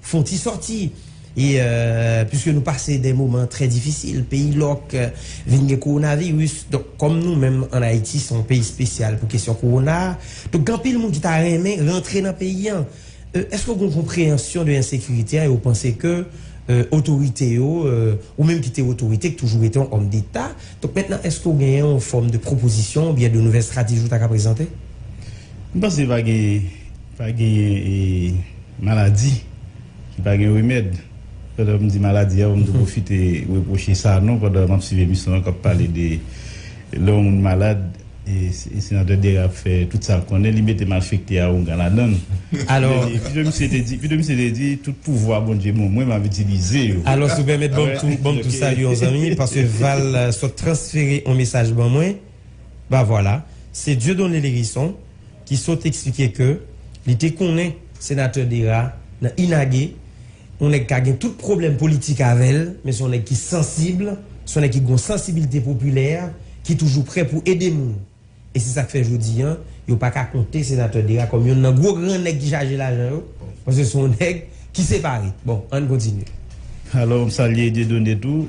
Fon ti sòti e puiske nou pase de moman trè difisil, peyi lòk, vin gen kowonaviris, donk kòm nou menm an Ayiti se yon peyi spesyal pou kesyon kowona, donk gen anpil moun ki ta renmen rantre nan peyi an. Eske ou gen yon konpreyansyon de ensekirite a e ou panse ke otorite yo, ou menm ki te otorite, ki toujou rete yon òm deta, donk mentnan eske ou genyen yon fòm de pwopozisyon oubyen de nouvèl strategi ou ta ka prezante? M panse pa gen. Pa genyen maladi ki pa gen remèd. Pandan m di maladi a, m tou pwofite repwoche Sanon pandan m ap swiv emisyon an k ap pale de lè yon moun malad, Senatè Dera ap fè tout sa l konnen, li mete malfekte awogan ladan l. Pito misye te di, pito misye te di tout pouvwa Bondye ban mwen m ap itilize yo. Alòs ou pèmèt ban m tou salye yon zanmi paske Val sot transfere yon mesaj ban mwen. Bah vwala, se Dieudonné Lherisson ki sot eksplike ke li te konnen Senatè Dera nan Inage, yon nèg ka gen tout pwoblèm politik avè l, men se yon nèg ki sansib, se yon nèg ki gen yon sansibilite popilè, ki toujou prè pou ede moun. E se sa k fè jodi an, yo pa ka konte Senatè Dera kòm yonn nan gwo gran nèg ki chaje lajan yo, paske se yon nèg ki separe. Bon, ann kontinye. Alò, m salye Dieudonné tou.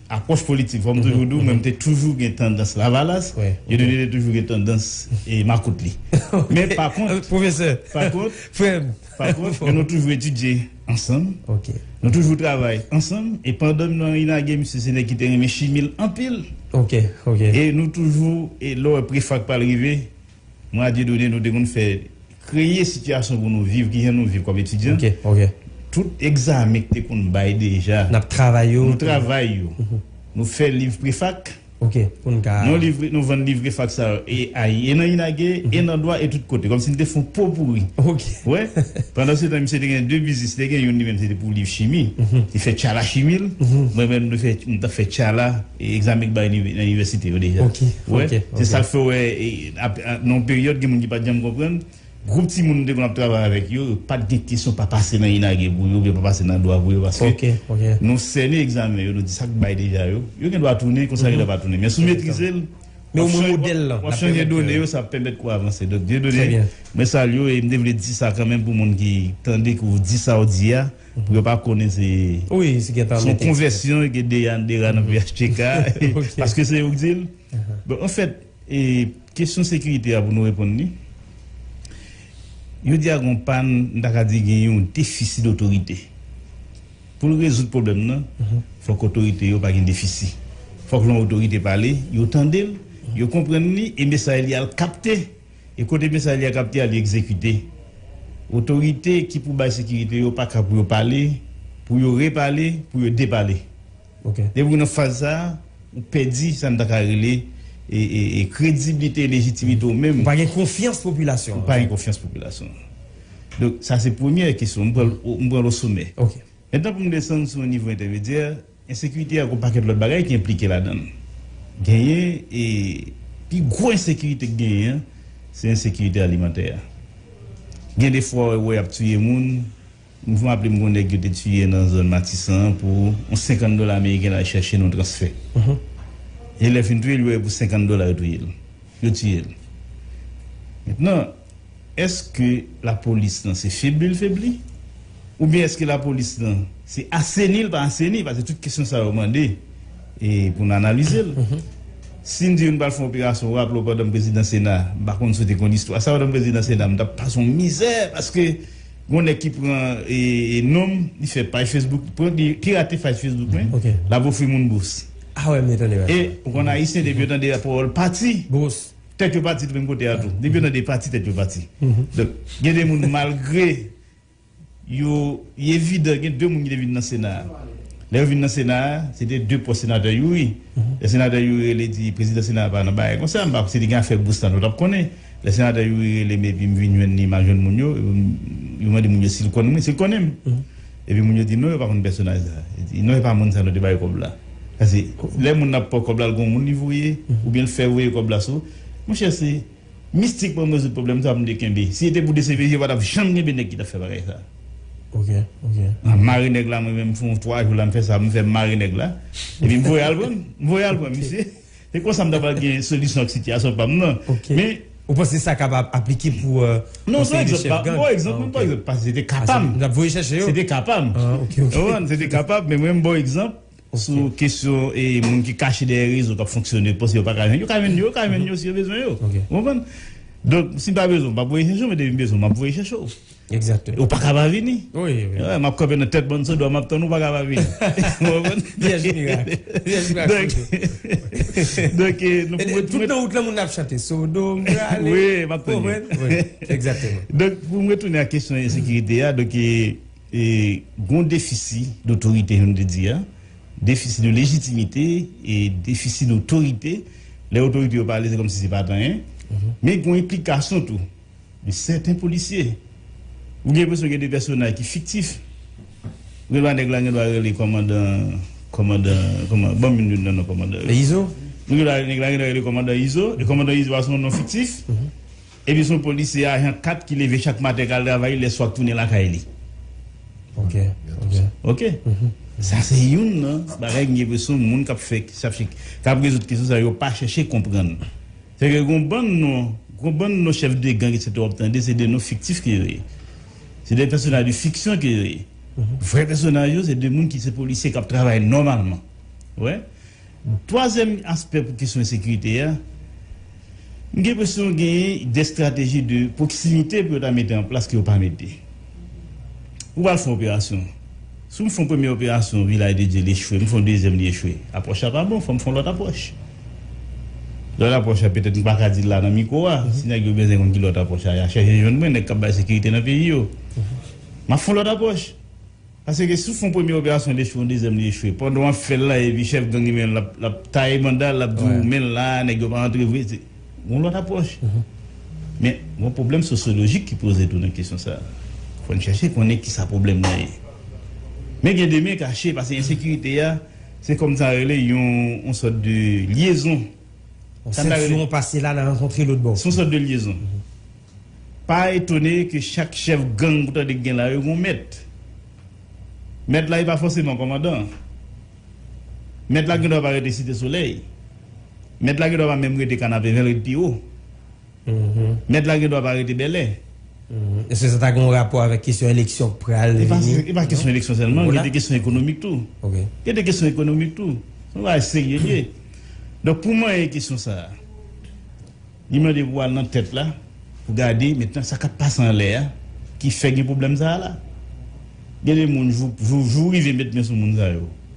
apwòch politik fò m toujou di w mwen m te toujou gen tandans lavalas Dieudonné te toujou gen tandans makout li men pa kont pwofesè pa kont frè m pa kont nou toujou etidye ansanm nou toujou travay ansanm e pandan m nan inage misye se nèg ki te renmen chimi l anpil e nou toujou lè w wè prefak pa l rive Mwen ak Dieudonné nou te konn fè kreye sitiyasyon pou nou viv kijan nou viv kòm etidyan. Tout egzamen ki te konn bay deja, nou travay yo. Nou fè liv prefak, nou vann liv prefak sa yo e ay e nan Inage e nan Dwa e tout kote. Kòmsi nou te fè yon popouri. Wè? Pandansetan misye te gen 2 biznis. Li te gen youn li menm se te pou liv chimi. Li fè tchala chimi l. Mwen menm nou fè nou t ap fè tchala. Egzamen k bay nan inivèsite yo deja. Ok, ok. Se sa k fè w wè, nan yon peryòd gen moun ki pa t janm konprann, gwoup timoun nou te konn ap travay avèk yo, yo pa t gen kesyon pa pase nan INAGE pou yo oubyen pa pase nan dwa pou yo paske nou sènen egzamen yo, nou di sa k bay deja yo. Yo gen dwa tounen, konsa gen dwa pa tounen. Men si w metrize l, w ap chanje done yo, sa ap pèmèt ke w avanse. Donk, Dieudonné, mwen salye w e m te vle di sa kanmenm pou moun ki tande ke w di sa w di a. Yo pa konnen se son konvèsyon ke Deyann te rann phtk paske se yo ki di l. Bon an fèt kesyon sekirite a pou nou reponn li jodi a gen yon pàn m ta ka di gen yon defisi dotorite. Pou l rezoud pwoblèm nan fòk otorite yo pa gen defisi. Fòk lè yon otorite pale yo tande l, yo konprann li e mesaj li al kapte. E kote mesaj li a kapte a li egzekite. Otorite ki pou bay sekirite yo pa ka pou yo pale, pou yo repale, pou yo depale. Depi ou nan faz sa a, ou pèdi sa n ta ka rele krediblite e lejitimite ou menm. Ou pa gen konfyans popilasyon an. Ou pa gen konfyans popilasyon an. Donk sa se premyè kesyon. M pran l osomè. Mètnan pou m desann sou yon nivo entèmedyè. Ensekirite ak yon pakèt lòt bagay ki enplike ladan l. Genyen e pi gwo ensekirite k genyen an, se ensekirite alimantè a. Gen de fwa ou wè y ap tiye moun, m raple m gen yon nèg yo te tiye nan zòn Matisan an pou yon 50 dola ameriken l al chèche nan yon transfè. E lè fin touye l yo wè pou 50 dola yo touye l. Yo tiye l. Mentnan. Eske lapolis lan se febli l febli? Oubyen eske lapolis lan se aseni l pa aseni? Pase tout kesyon sa yo mande pou n analize l. Si n di yo n pral fè yon operasyon, ou raple w pandan m prezidan sena, m pa konn si w te konn istwa sa, pandan m prezidan sena m t ap pase yon mizè paske gon nèg ki pran non m, li fè paj fesbouk, li pirate paj fesbouk mwen, l ap ofri moun bous. E ou konn ayisyen depi yo tande pawòl pati. Tèt yo pati tou menm kote a tou. Depi yo nan de pati tèt yo pati. Donk gen de moun malgre yo li evidan gen de moun ki te vin nan sena a. Lè yo vin nan sena a se te de pòs senatè Youri. Lè senatè Youri rele li di prezidan sena a pa nan bagay konsa m pa si li gen afè bous la nou tap konnen. Lè senatè Youri rele m epi m vin jwenn li m al jwenn moun yo epi yo mande moun yo si l konnen mwen si l konnen m. Epi moun yo di non yo pa konn pèsonaj sa. Yo di non e pa moun sa nou te bay kòb la. Pase lè moun nan ap pran kòb la l gon moun li voye oubyen l fè voye kòb la sou monchè se mistik pou rezoud pwoblèm sa mnde kenbe. Si se te pou dcpj yo pa t ap janm kenbe nèg ki t ap fè bagay sa. M mare nèg la mwen menm m fè yon 3 jou la m fè sa m fè m mare nèg la epi m voye al pran m voye al pran misye. Se konsa m ta pral gen solisyon ak sitiyasyon pa m nan. Ok. Ou panse sa kapab aplike pou konseye de chèf gang? Non, se yon bon egzanp. Pase se te ka pa m. N ap voye chèche yo? Se te ka pa m. Ou konprann? Se te ka pa m, men mwen m ba w egzanp sou kesyon moun ki kache dèyè rezo k ap fonksyone, yo panse yo pa ka jwenn. Yo ka jwenn yo, yo ka jwenn yo si yo bezwen yo. Ou konprann? Donk, si m pa bezwen w, m pa p voye chèche w, men depi m bezwen w, m ap voye chèche w. Exactement. Ou paka pa vini. Oui, oui. Wè, map kanpe nan tèt bann sou dwa, map tann ou paka pa vini. Ou konprann? Vyèj mirak. Vyèj mirak sodom. Donk, nou pou mwen. Tout nan wout lan moun ap chante sodom prale. Oui, map tann yo. Ou konprann? Oui. Exactement. Donk, pou mwen tounen ak kesyon ensekirite a, donk, gon defisi dotorite janm te di a, defisi de lejitimite e defisi dotorite. Lè otorite yo pale se kòmsi se pat anyen. Men gon enplikasyon tou. Li sèten polisye. Ou gen enpresyon gen de pèsonaj ki fiktif. Rema nèg la gendwa rele kòmandan kòmandan kòman banm youn nan non kòmandan yo. Izo. Ou gen dwa nèg la gendwa rele kòmandan Izo e kòmandan Izo a se yon non fiktif. Epi se yon polisye ajan 4 ki leve chak maten kal travay li lè swa tounen lakay li. Ok ok. Ok. Sa se youn nan bagay m gen enpresyon moun k ap fè k ap rezoud kesyon sa yo pa chèche konprann. Fè ke gon bann non, gon bann non chèf de gang etc wap tande se de non fiktif ke yo ye. Se de pèsonaj de fiksyon ke yo ye. Vrè pèsonaj yo se de moun ki se polisye kap travay nòmalman. Ou wè? Twazyèm aspè pou kesyon ensekirite a, m gen enpresyon genyen de estrateji de pwoksimite pou yo ta mete an plas ke yo pa mete. Ou pral fè yon operasyon, si w fè yon premye operasyon Vilaj de Dye li echwe, m fè yon dezyèm li echwe, apwòch la pa bon, fò m fè yon lòt apwòch. Lòt apwòch la petèt m pa ka di l la nan mikwo a. Si nèg yo bèzen konn ki lòt apwòch a, y a chèche jwenn mwen, nèg k ap bay sekirite nan peyi yo. M ap fè yon lòt apwòch. Paske si w fè yon premye operasyon l echwe, yon dezyèm li echwe. Pandan w ap fè l la epi chèf gang imen l l ap taye banda l, l ap di w men l la, nèg yo pa antre vre. Se yon lòt apwòch. Men, gen yon pwoblèm sosyolojik ki poze tou nan kesyon sa a. Fò n chèche konnen ki sa pwoblèm nan ye. Men gen demen kache paske ensekirite a. Se kòm sa rele yon yon sòt de lyezon. Yon sentyon pase la nan rankontre lòt bò. Se yon sòt de lyezon. Pa etone ke chak chèf gang ou tande ki gen la yo gen yon mèt. Mèt la e pa fòseman kòmandan an. Mèt la gen dwa pa rete Site Solèy. Mèt la gen dwa pa menm rete Kanapevè, l rete pi wo. Mèt la gen dwa pa rete Bèlè. Eske sa ta gen yon rapò avèk kesyon eleksyon k pral vini? E pa kesyon eleksyon sèlman, gen de kesyon ekonomik tou. Gen de kesyon ekonomik tou. Se yon bagay serye l ye. Donk pou manyen kesyon sa a, li mande pou w al nan tèt la, pou gade mentnan sa k ap pase anlè a ki fè gen pwoblèm sa a la. Gen de moun, jou jou rive met men sou moun sa yo.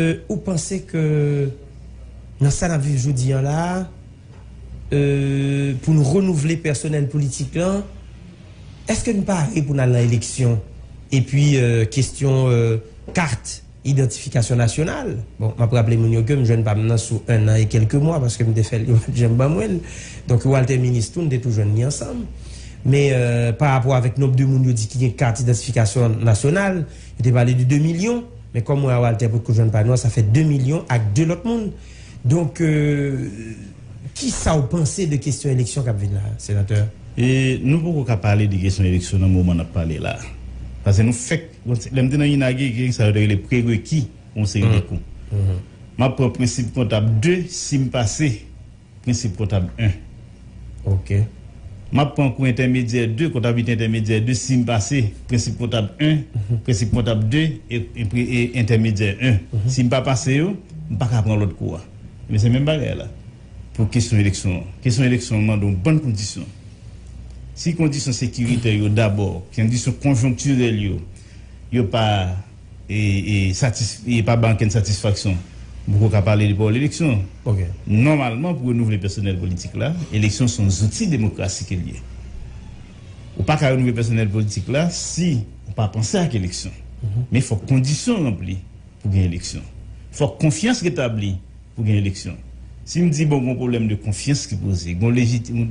Ou panse ke nan sa n ap viv jodi an la a, pou n renouvle pèsonèl politik lan, èske n pare pou n al nan eleksyon? Epi kesyon kat idantifikasyon nasyonal, bon, m ap raple moun yo ke m jwenn pa m nan sou ennan e kèlke mwa paske m te fè l, yo pa t janm ban mwen l. Donk yo al te minis tou, n te tou jwenn li ansanm. Men, parapò avèk nonb de moun yo di ki gen kat idantifikasyon nasyonal, yo te pale de 2 milyon. Men kòm mwen a Walter potko jwenn pa nou a sa fè 2 milyon ak 2 lòt moun. Donk kisa w panse de kesyon eleksyon kap vin la a Senatè? Nou poko ka pale de kesyon eleksyon nan moman nap pale la a. Pase nou fèk lè m te nan INAGE gen sa yo te rele prereki pou yon seri de kou. Map pran prensip kontab 2 si m pase. Prensip kontab 1. Ok. M ap pran kou entèmedyè 2, kontabite entèmedyè 2, si m pase prensip kontab 1, prensip kontab 2 e entèmedyè 1. Si m pa pase yo, m pa ka pran lòt kou a. Enben se menm bagay la pou kesyon eleksyon an. Kesyon eleksyon an mande yon bann kondisyon. Si kondisyon sekiritè yo dabò, kondisyon konjonktirèl yo, yo pa. e pa ban ankenn satisfaksyon pou ke w ka pale de pawòl eleksyon. Nòmalman pou renouvle pèsonèl politik la, eleksyon se yon zouti demokrasi ke l ye. Ou pa ka renouvle pèsonèl politik la si ou pa panse ak eleksyon. Men fòk kondisyon ranpli pou gen eleksyon. Fòk konfyans retabli pou gen eleksyon. Si m di bon gon pwoblèm de konfyans ki poze, gon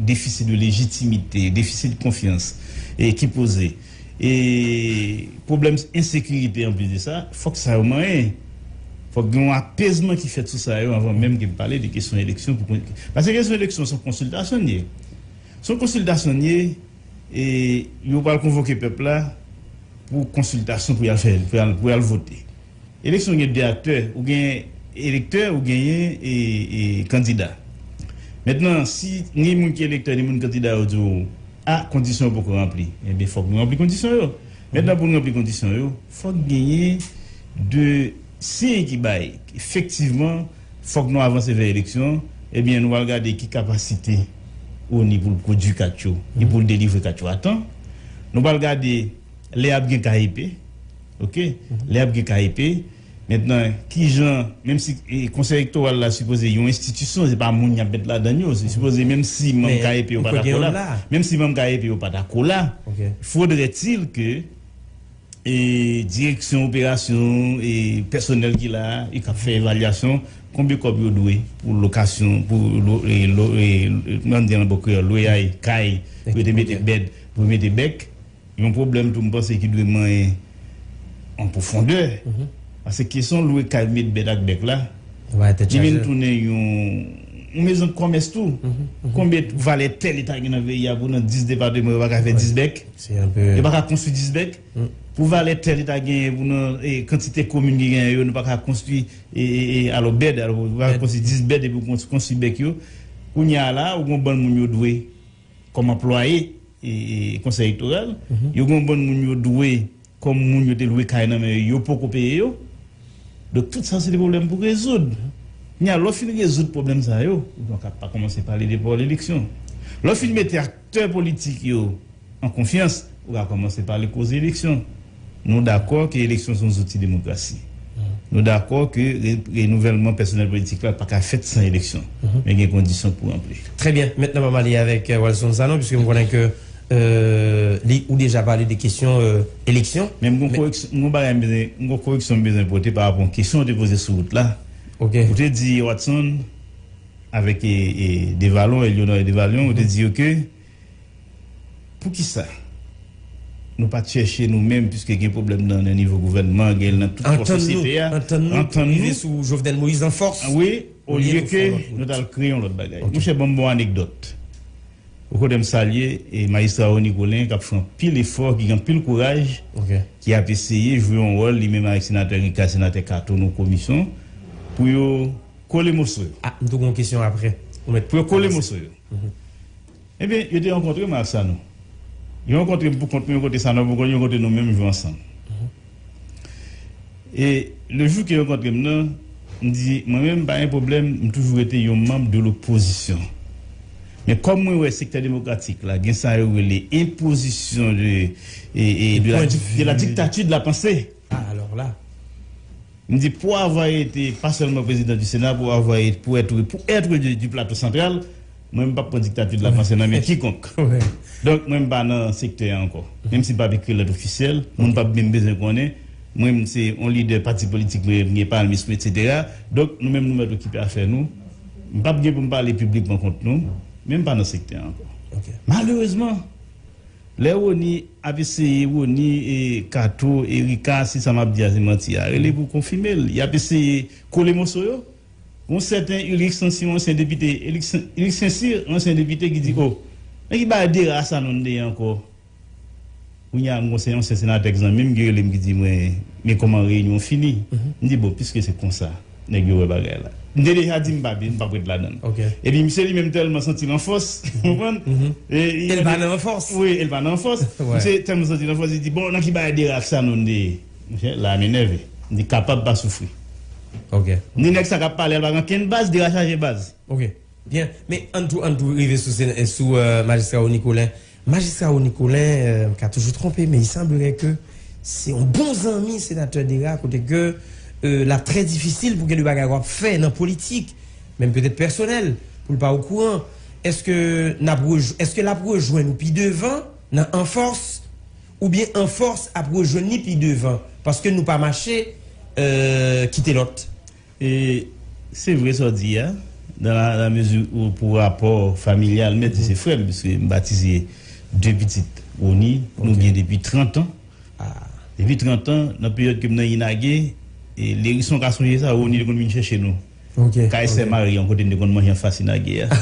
defisi de lejitimite, defisi de konfyans ki poze. E pwoblèm ensekirite anplis de sa, fòk sa yo manyen. Fòk gen yon apezman ki fèt sou sa yo anvan menm ke n pale de kesyon eleksyon pou kon. Pase kesyon eleksyon se yon konsiltasyon li ye. Se yon konsiltasyon li ye e yo pral konvoke pèp la pou konsiltasyon pou y al fè pou y al vote. Eleksyon gen 2 aktè, ou gen elektè ou genyen kandida. Mentnan si ni moun ki elektè ni moun kandida yo di w a kondisyon yo poko ranpli, enben fòk nou ranpli kondisyon yo. Mentnan pou nou ranpli kondisyon yo, fòk genyen 2 siy ki bay efektivman fòk nou avanse vè eleksyon, enben nou pral gade ki kapasite ONI pou l pwodui kat yo e pou l delivre kat yo a tan. Nou pral gade lè ap gen KEP, Ok lè ap gen ka epe. Mentnan kijan menm si konsèy ektoral la sipoze yon enstitisyon se pa moun yap met ladann yo se sipoze menm si manm ka epe yo pa dakò la menm si manm ka epe yo pa dakò la fodrè til ke e direksyon operasyon e pèsonèl ki la e kap fè evalyasyon konbe kòb yo dwe pou lokasyon pou lo e lo e kman n di an bò kreyòl loyay kay pou yo te mete bèd pou yo mete bèk. Yon pwoblèm tou m panse ki dwe manyen an pwofondè, pase kesyon lwe kay met bèt ak bèk la, li vin tounen yon mezon kòmès tou. Konbe valè tè li ta gen nan peyi a pou nan 10 depateman yo pa ka fè 10 bèk? Yo pa ka konstwi 10 bèk? Pou valè tè li ta genyen pou nan kantite komin ki genyen yo nou pa ka konstwi alò bèd, alò pa ka konstwi 10 bèd epi w konstwi bèk yo? Kounye a la ou gen yon bann moun yo dwe. Kòm anplwaye Konsèy Elektoral, yo gen yon bann moun yo dwe kòm moun yo te lwe kay nan men yo, yo poko peye yo. Donk tout sa se te pwoblèm pou rezoud. Kounye a, lè w fin rezoud pwoblèm sa yo, ou pa ka pa kòmanse pale de pawòl eleksyon. Lè w fin mete aktè politik yo an konfyans, ou ka kòmanse pale koze eleksyon. Nou dakò ke eleksyon se yon zouti demokrasi. Nou dakò ke renouvèlman pèsonèl politik la pa ka fèt san eleksyon, men gen kondisyon pou ranpli. Trè byen. Mentnan m'ap ale avèk Walson Sanon, piske m konnen ke li ou deja pale de kesyon eleksyon. Men m gen yon koreksyon, m gen yon bagay m bezwen, m gen yon koreksyon m bezwen pote pa rapò yon kesyon ou te poze sou wout la. Ok. Ou te di Watson avèk e Devalon, Elionor e Devalon, ou te di yo ke. Poukisa Nou pat chèche Nou menm piske gen pwoblèm nan nan nivo gouvènman gen nan tout kò sosyete a Antann nou pou n rive sou Jovenel Moïse an fòs wi olye ke Nou tal kreye yon lòt bagay Monchè banm bon anekdòt Ou konnen m salye Majistra Rony Colin kap fè anpil efò ki gen anpil kouraj ki ap eseye jwe yon wòl li menm avèk Senatè Ricard Senatè Cato nan komisyon pou yo kole moso yo pou yo kole moso yo. Ebyen, yo te rankontre m ak Sanon. Yo rankontre m pou kont mwen yon kote Sanon pou kont li, yon kote nou menm jou ansanm. E le jou ke yo rankontre m nan, m di mwen menm m pa gen pwoblèm, m toujou rete yon manm de lopozisyon. Men kòm mwen wè sektè demokratik la gen sa yo rele enpozisyon de la diktati de la panse. Ah alors là! M di pour avoir été pas seulement président du Sénat pour avoir été pour être pour être de du plateau central mwen m pap pran dictature de la pensée nan men kikonk donk mwen m pa nan sektè a ankò menm si m pap ekri lèt ofisyèl moun pap menm bezwen konnen mwen m se yon lidè pati politik mwen m gen palmis mwen etc donk nou menm nou mèt okipe afè nou m pap gen pou m pale piblikman kont nou men m pa nan sektè a ankò malerezman Lè Rony ap eseye Rony e kato e rika si sa map di a se manti a rele pou konfimel yap eseye kole moso yo gon sèten Ulrick Saincy yon ansyen depite Ulrick Saincy yon ansyen depite ki di oh nan ki bagay Dera Sanon nou te ye ankò kounye a m gon yon ansyen senatè ki zanmim ki relem ki di mwen men kòman reyinyon fini m di bon piske se konsa. Nèg yo wè bagay la. M te deja di m pa vin, m pap ret ladan l. Epi misye li menm tèlman santi l an fòs, ou konprann? E l pa nan fòs. Wi, e l pa nan fòs. Misye tèlman santi l an fòs, li di, bon, nan ki bagay Deraf Sanon m te ye? Monchè, la a m enève. M di, kapab pa soufri. Ni nèg sa k ap pale a l pa gen ankenn baz, Dera chaje baz. Ok. Byen. Men, ann tou, ann tou rive sou Majistra Rony Colin. Majistra Rony Colin m ka toujou twonpe men il semblerait ke se yon bon zanmi Senatè Dera kote ke l ap trè difisil pou gen de bagay w ap fè nan politik menm petèt pèsonèl pou l pa okouran èske n ap rejwen èske l ap rejwenn ou pi devan nan anfòs oubyen anfòs ap rejwenn li pi devan paske nou pa mache kite lòt. E se vre sa w di a, dan la mezi ou pou rapò familyal, mèt di se frè m, piske m batize de pitit Rony, nou gen depi trantan. Depi trantan, nan peryòd ke m nan Inage, Lerison ka sonje sa, Rony te konn vin chèche nou, kay sè Mari an, kote n te konn manje anfas Inage a.